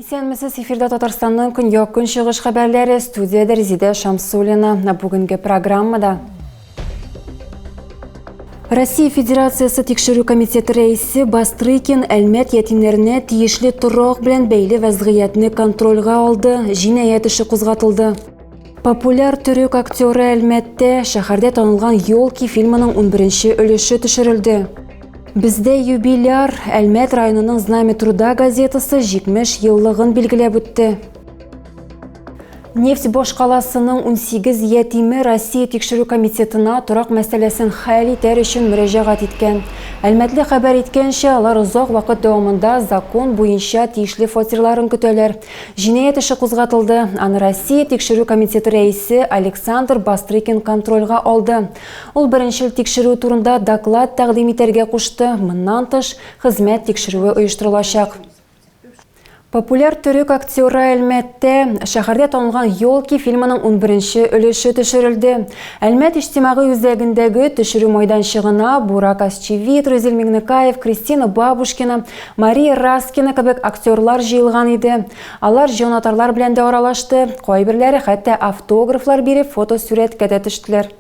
Исәнмесез, эфирда Татарстанның көньяк-көнчыгыш хәбәрләре, студияда Резидә Шамсулина. Бүгенге программада Россия Федерациясе тикшерү комитеты рәисе Бастрыкин Әлмәт ятимнәренә тиешле торак белән бәйле вәзгыятьне контрольга алды, җинаять эше кузгатылды. Популяр төрек актеры Әлмәттә шәһәрдә танылган Елки фильмының 11-нче өлеше төшерелде. Бездә юбиляр Әлмәт районының Знамя труда газетасы 70 еллыгын билгеләп үтте. Нефть башкаласының 18 ятиме Россия тикшерү комитетына торак мәсьәләсен хәл итәр өчен мөрәҗәгать иткән. Әлмәтле хәбәр иткәнчә, алар озак вакыт дәвамында закон буенча тиешле фатирларын көтәләр. Җинаять эше кузгатылды. Аны Россия тикшерү комитеты рәисе Александр Бастрыкин контрольга алды. Ул беренчел тикшерү турында доклад тәкъдим итәргә кушты. Моннан тыш, хезмәт тикшерүе оештырылачак. Популяр төрек актеры Әлмәттә шәһәрдә танылган Елки фильмының унберенче өлеше төшерелде. Әлмәт иҗтимагый үзәгендәге төшерү майданчыгына Бурак Асчевит, Рузил Мигныкаев, Кристина Бабушкина, Мария Раскина кебек актерлар җыелган иде. Алар җанатарлар белән дә аралашты, кайберләре хәтта автографлар биреп фотосурәткә дә төштеләр.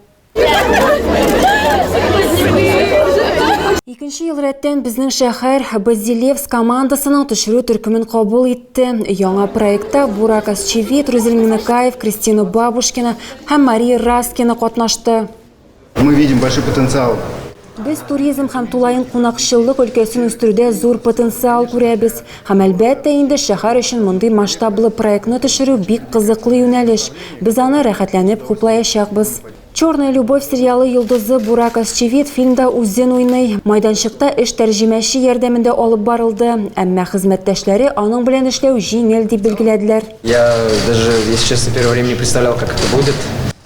Икенче ел рәттән безнең шәһәр Базилевс командасының төшерү төркемен кабул итте. Яңа проектта Бурак Асчевит, Рузель Минакаев, Кристина Бабушкина һәм Мария Раскина катнашты. Мы видим большой потенциал Без туризм һәм тулаем кунакчыллык өлкәсен үстерүдә зур потенциал күрәбез. Һәм, әлбәттә, инде шәһәр өчен мондый масштаблы проектны төшерү бик кызыклы юнәлеш. Без аны рәхәтләнеп хуплаячакбыз. Черная любовь сериалы йолдызы Бурак Озчивит фильмда үзен уйный. Майданчыкта эш тәрҗемәче ярдәмендә алып барылды, әмма хезмәттәшләре аның белән эшләү җиңел дип билгеләделәр.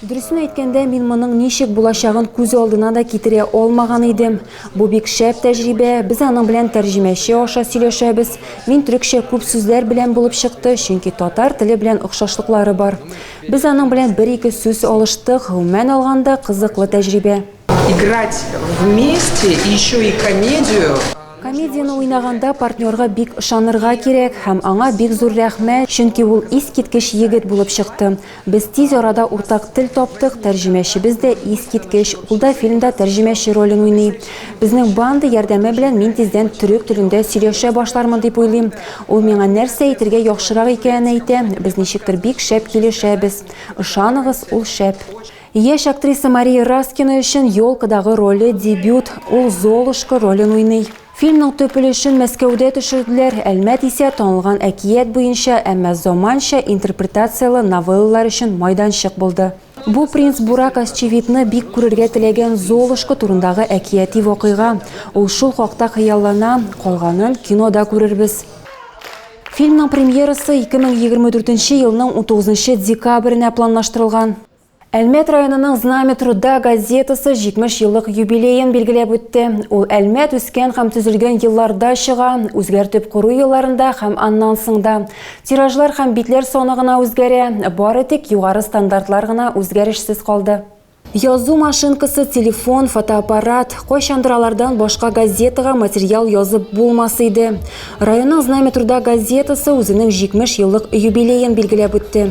Дөресен әйткәндә, мин моның ничек булачагын күз алдына да китерә алмаган идем. Бу бик шәп тәҗрибә, без аның белән тәрҗемәче аша сөйләшәбез. Мин трекча күп сүзләр белән булып чыкты, чөнки татар теле белән охшашлыклары бар. Без аның белән бер-ике сүз алыштык, гомумән алганда, кызыклы тәҗрибә. Играть вместе и еще и комедию. Комедияне уйнаганда партнерга бик ышанырга кирәк һәм аңа бик зур рәхмәт, чөнки ул искиткеч егет булып чыкты. Без тиз арада уртак тел таптык, тәрҗемәчебез дә искиткеч, ул да фильмда тәрҗемәче ролен уйный. Безнең банда ярдәме белән мин тиздән төрек телендә сөйләшә башлармын дип уйлыйм. Ул миңа нәрсә әйтергә яхшырак икәнен әйтә, без ничектер бик шәп килешәбез. Ышаныгыз, ул шәп. Яшь актриса Мария Раскина өчен Ёлкадагы роле дебют, ул Золушка ролен уйный. Фильмның төп өлешен Мәскәүдә төшерделәр, Әлмәт исә танылган әкият буенча, әмма заманча интерпретацияле новеллалар өчен майданчык булды. Бу принц Бурак Асчевидны бик күрергә теләгән Золушка турындагы әкияти вакыйга. Ул шул хакта хыяллана, калганын кинода күрербез. Фильмның премьерасы 2024 елның 19 декабренә планлаштырылган. Әлмәт районының Знамя труда газетасы 70 еллык юбилеен билгеләп үтте. Ул Әлмәт үскән һәм төзелгән елларда чыга, үзгәртеп кору елларында һәм аннан соң да. Тиражлар һәм битләр саны гына үзгәрә, бары тик югары стандартлар гына үзгәрешсез калды. Язу машинкасы, телефон, фотоаппарат, кайчандыр алардан башка газетага материал язып булмас иде. Районның Знамя труда газетасы үзенең 70 еллык юбилеен билгеләп үтте.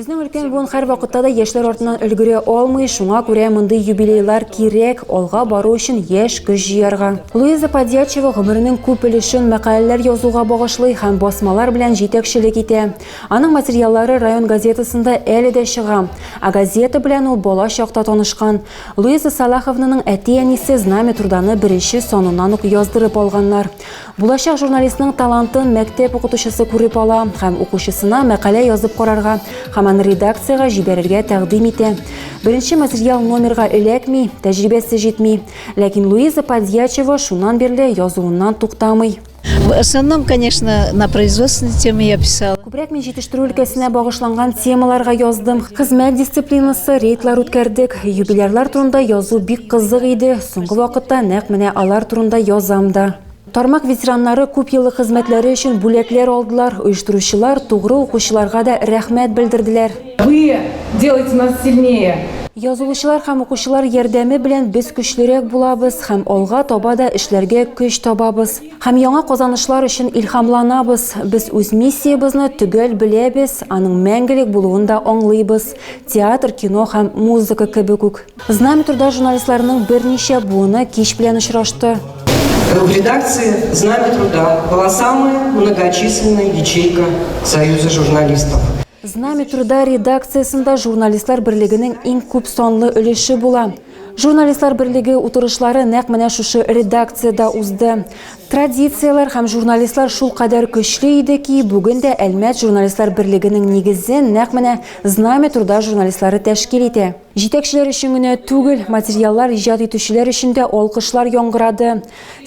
Безнең өлкән буын һәрвакытта да яшьләр артыннан өлгерә алмый, шуңа күрә мондый юбилейлар кирәк, алга бару өчен яшь көч җыярга. Луиза Подьячева гомеренең күп өлешен мәкаләләр язуга багышлый һәм басмалар белән җитәкчелек итә. Аның материаллары район газетасында әле дә чыга. Ә газета белән ул бала чакта танышкан. Луиза Сәлаховнаның әти-әнисе Знамя труданы беренче саныннан ук яздырып алганнар. Булачак журналистның талантын мәктәп укытучысы күреп ала һәм укучысына мәкалә язып карарга һәм аны редакциягә җибәрергә тәкъдим итә. Беренче материал номерга эләкми, тәҗрибәсе җитми. Ләкин Луиза Подьячева шуннан бирле язуыннан туктамый. В основном, конечно, на производственной теме я писала. Күбрәк мин җитештерү өлкәсенә багышланган темаларга яздым. Хезмәт дисциплинасы, рейдлар үткәрдек. Юбилярлар турында язу бик кызык иде. Соңгы вакытта нәкъ менә алар турында язам да. Тармак ветераннары күп еллык хезмәтләре өчен бүләкләр алдылар. Оештыручылар, тугры укучыларга да рәхмәт белдерделәр. Вы делаете нас сильнее. Язылучылар һәм укучылар ярдәме белән без көчлерәк булабыз һәм алга таба да эшләргә көч табабыз. Һәм яңа казанышлар өчен илһамланабыз. Без үз миссиябезне төгәл беләбез, аның мәңгелек булуын да аңлыйбыз. Театр, кино һәм музыка кебек үк. Знамя труда журналистларының берничә буыны кич белән очрашты. В редакции Знамя труда была самая многочисленная ячейка Союза журналистов. Знамя труда редакциясендә журналистлар берлегенең иң күп санлы өлеше була. Журналистлар берлеге утырышлары нәкъ менә шушы редакциядә узды. Традицияләр һәм журналистлар шул кадәр көчле иде ки, бүген дә Әлмәт журналистлар берлегенең нигезен нәкъ менә Знамя труда журналистлары тәшкил итә. Җитәкчеләр өчен генә түгел, материаллар иҗат итүчеләр өчен дә алкышлар яңгырады.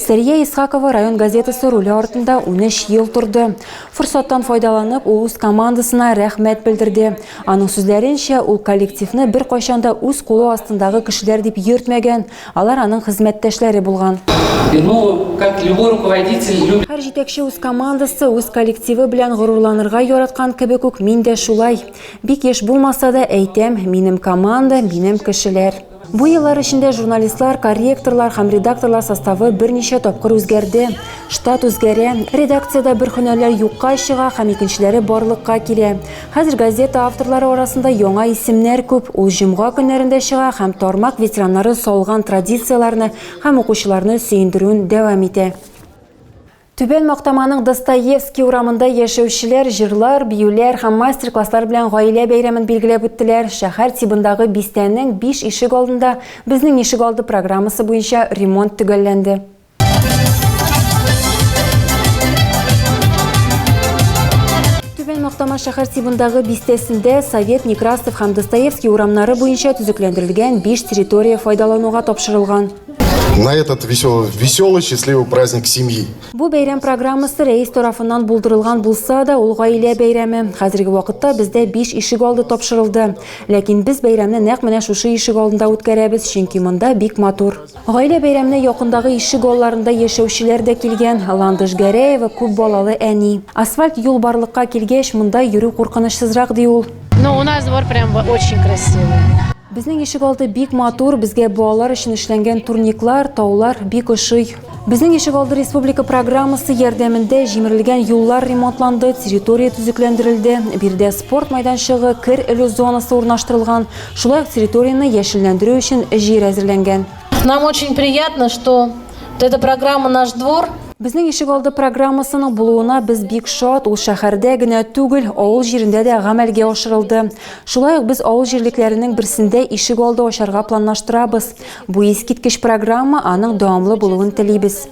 Сәрия Исхакова район газетасы руле артында 13 ел торды. Форсаттан файдаланып, ул үз командасына рәхмәт белдерде. Аның сүзләренчә, ул коллективны бер кайчанда үз кулы астындагы кешеләр дип йөртмәгән, алар аның хезмәттәшләре булган. Һәр җитәкче үз командасы, үз коллективы белән горурланырга яраткан кебек үк мин дә шулай. Бик еш булмаса да, әйтәм, минем команда, минем кешеләр. Бу еллар эчендә журналистлар, корректорлар һәм редакторлар составы берничә тапкыр үзгәрде. Штат үзгәрә, редакциядә бер һөнәрләр юкка чыга һәм икенчеләре барлыкка килә. Хәзер газета авторлары арасында яңа исемнәр күп, ул җомга көннәрендә чыга һәм тармак ветераннары салган традицияләрне һәм укучыларны сөендерүен дәвам итә. Түбән Мактаманың Достоевский урамында яшәүчеләр җырлар, биюләр һәм мастер-класслар белән гаилә бәйрәмен билгеләп үттеләр. Шәһәр тибындагы бистәнең биш ишек алдында Безнең ишек алды программасы буенча ремонт төгәлләнде. Түбән Мактама шәһәр тибындагы бистәсендә Совет, Некрасов һәм Достоевский урамнары буенча төзекләндерелгән биш территория файдалануга тапшырылган. на этот веселый, веселый, счастливый праздник семьи. Бу бәйрәм программасы рәис тарафыннан булдырылган булса да, ул гаилә бәйрәме. Хәзерге вакытта бездә 5 ишек алды тапшырылды. Ләкин без бәйрәмне нәкъ менә шушы ишек алдында үткәрәбез, чөнки монда бик матур. Гаилә бәйрәменә якындагы ишек алларында яшәүчеләр дә килгән. Ландыш Гәрәева күп балалы әни. Асфальт юл барлыкка килгәч, монда йөрү куркынычсызрак ди ул. Ну, у нас двор прям очень красивый. Безнең ишек алды бик матур, безгә балалар өчен эшләнгән турниклар, таулар бик ошый. Безнең ишек алды республика программасы ярдәмендә җимерелгән юллар ремонтланды, территория төзекләндерелде. Бирдә спорт майданчыгы, кер элү зонасы урнаштырылган. Шулай ук территорияне яшелләндерү өчен җир әзерләнгән. Нам очень приятно, что Это программа «Наш двор». Безнең ишегалды программасының булуына без бик шат. Ул шәһәрдә генә түгел, авыл җирендә дә гамәлгә ашырылды. Шулай ук без авыл җирлекләренең берсендә ишегалды ачарга планлаштырабыз. Бу искиткеч программа, аның дәвамлы булуын телибез.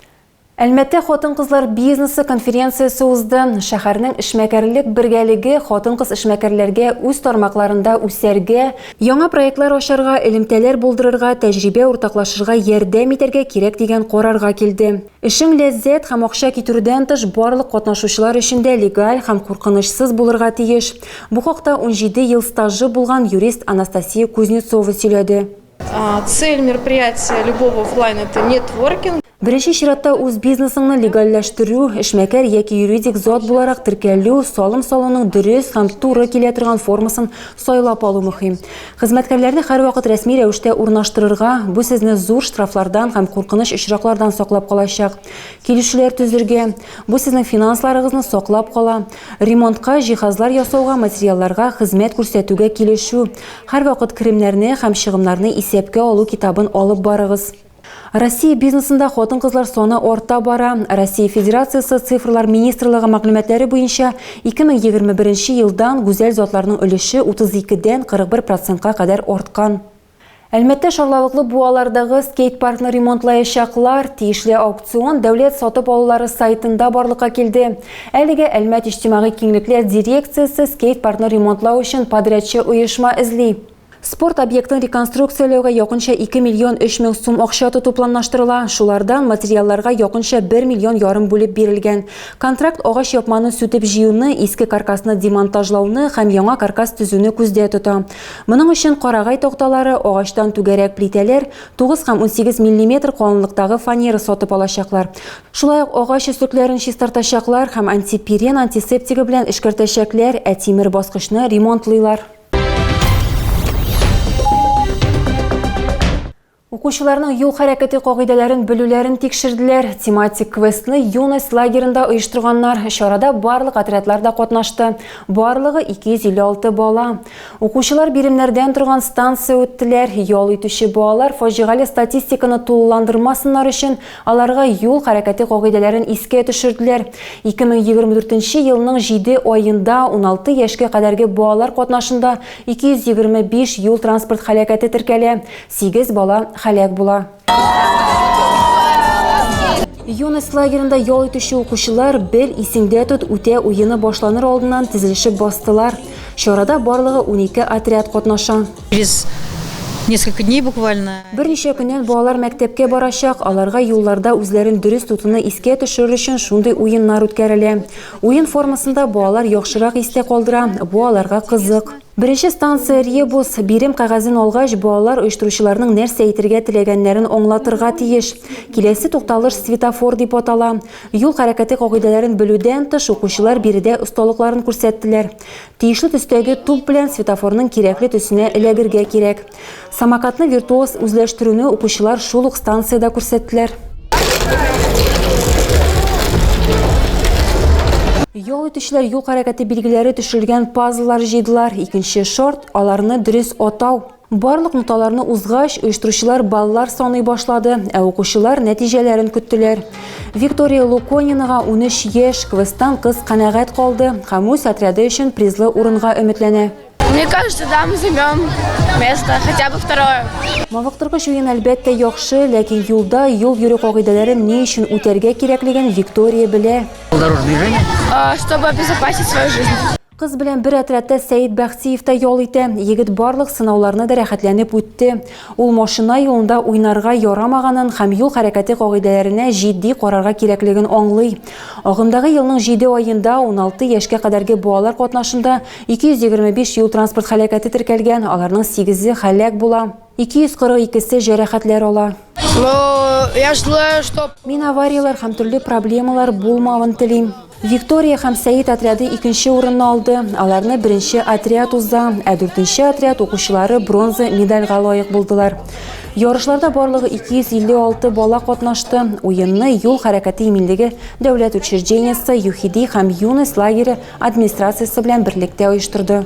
Әлмәттә хатын-кызлар бизнесы конференциясе узды. Шәһәрнең эшмәкәрлек бергәлеге хатын-кыз эшмәкәрләргә үз тармакларында үсәргә, Яңа проектлар ачарга, элемтәләр булдырырга, тәҗрибә уртаклашырга ярдәм итәргә кирәк дигән карарга килде. Эшең ләззәт һәм акча китерүдән тыш барлык катнашучылар өчен дә легаль һәм куркынычсыз булырга тиеш. Бу хакта унҗиде ел стажы булган юрист Анастасия Кузнецова сөйләде. Цель мероприятия любого офлайн это нетворкинг. Беренче чиратта үз бизнесыңны легальләштерү, эшмәкәр яки юридик зат буларак теркәлү, салым салуның дөрес һәм туры килә торган формасын сайлап алу мөһим. Хезмәткәрләрне һәрвакыт рәсми рәвештә урнаштырырга, бу сезне зур штрафлардан һәм куркыныч очраклардан саклап калачак. Килешүләр төзергә, бу сезнең финансларыгызны саклап кала. Ремонтка, җиһазлар ясауга, материалларга, хезмәт күрсәтүгә килешү. Һәрвакыт керемнәрне һәм чыгымнарны исәпкә алу китабын алып барыгыз. Россия бизнесында хатын-кызлар саны арта бара. Россия Федерациясе цифрлар министрлыгы мәгълүматлары буенча, 2021 елдан гүзәл затларның өлеше 32 дән 41 процентка кадәр арткан. Әлмәттә шарлавыклы буалардагы скейт-паркны ремонтлаячаклар. Тиешле аукцион дәүләт сатып алулары сайтында барлыкка килде. Әлегә Әлмәт иҗтимагый киңлекләр дирекциясе скейт-паркны ремонтлау өчен подрядчы оешма эзли. Спорт объектын реконструкцияләүгә якынча 2 миллион 3 мең сум акча тоту планлаштырыла, шулардан материалларга якынча 1 миллион ярым бүлеп бирелгән. Контракт агач япманы сүтеп җыюны, иске каркасны демонтажлауны һәм яңа каркас төзүне күздә тота. Моның өчен карагай такталары, агачтан түгәрәк плитәләр, 9 һәм 18 миллиметр калынлыктагы фанера сатып алачаклар. Шулай ук агач өслекләрен чистартачаклар һәм антипирен антисептигы белән эшкәртәчәкләр, ә тимер баскычны ремонтлыйлар. Укучыларның юл хәрәкәте кагыйдәләрен белүләрен тикшерделәр. Тематик квестны Юнес лагерында оештырганнар. Чарада барлык отрядлар да катнашты. Барлыгы 256 бала. Укучылар биремнәрдән торган станция үттеләр. Ял итүче балалар фаҗигале статистиканы тулыландырмасыннар өчен Аларга юл хәрәкәте кагыйдәләрен искә төшерделәр. 2024 елның 7 аенда 16 яшькә кадәрге балалар катнашында 225 юл-транспорт хәләкәте теркәлә, сигез бала хәләк була. Юность лагерында ял итүче укучылар Бел, исеңдә тот, үтә уены башланыр алдыннан тезелешеп бастылар. Чарада барлыгы унике отряд катнаша. Берничә көннән балалар мәктәпкә барачак, аларга юлларда үзләрен дөрес тотуны искә төшерер өчен шундый уеннар үткәрелә. Уен формасында балалар яхшырак истә калдыра, бу аларга кызык. Беренче станция ребус. Бирем кәгазен алгач, балалар оештыручыларның нәрсә әйтергә теләгәннәрен аңлатырга тиеш. Киләсе тукталыш светофор дип атала. Юл хәрәкәте кагыйдәләрен белүдән тыш, укучылар биредә осталыкларын күрсәттеләр. Тиешле төстәге туп белән светофорның кирәкле төсенә эләгергә кирәк. Самокатны виртуоз үзләштерүне укучылар шул ук станциядә күрсәттеләр. Ял итүчеләр юл хәрәкәте билгеләре төшерелгән пазллар җыйдылар. Икенче шарт, аларны дөрес атау. Барлык ноталарны узгач, оештыручылар баллар саный башлады, ә укучылар нәтиҗәләрен көттеләр. Виктория Луконинага 13 яшь, квесттан кыз канәгать калды һәм үз отряды өчен призлы урынга өметләнә. Мне кажется, да, мы займем место, хотя бы второе. Мавыктыргыч уен әлбәттә яхшы, ләкин юлда юл йөрү кагыйдәләрен ни өчен үтәргә кирәклеген Виктория белә. Чтобы обезопасить свою жизнь. Кыз белән бер отрядта Сәет Бәхтиев та ял итә. Егет барлык сынауларны да рәхәтләнеп үтте. Ул машина юлында уйнарга ярамаганын һәм юл хәрәкәте кагыйдәләренә җитди карарга кирәклеген аңлый. Агымдагы елның җиде аенда уналты яшькә кадәрге балалар катнашында 225 юл-транспорт һәлакәте теркәлгән, аларның сигезе һәлак була. 242 се җәрәхәтләр ала. Мин аварияләр һәм төрле проблемалар булмавын телим. Виктория һәм Сәет отряды икенче урынны алды. Аларны беренче отряд уза, ә дүртенче отряд укучылары бронза медальга лаек булдылар. Ярышларда барлыгы 256 бала катнашты. Уенны юл хәрәкәте иминлеге дәүләт учреждениесе, ЮХИДИ һәм Юность лагере администрациясе белән берлектә оештырды.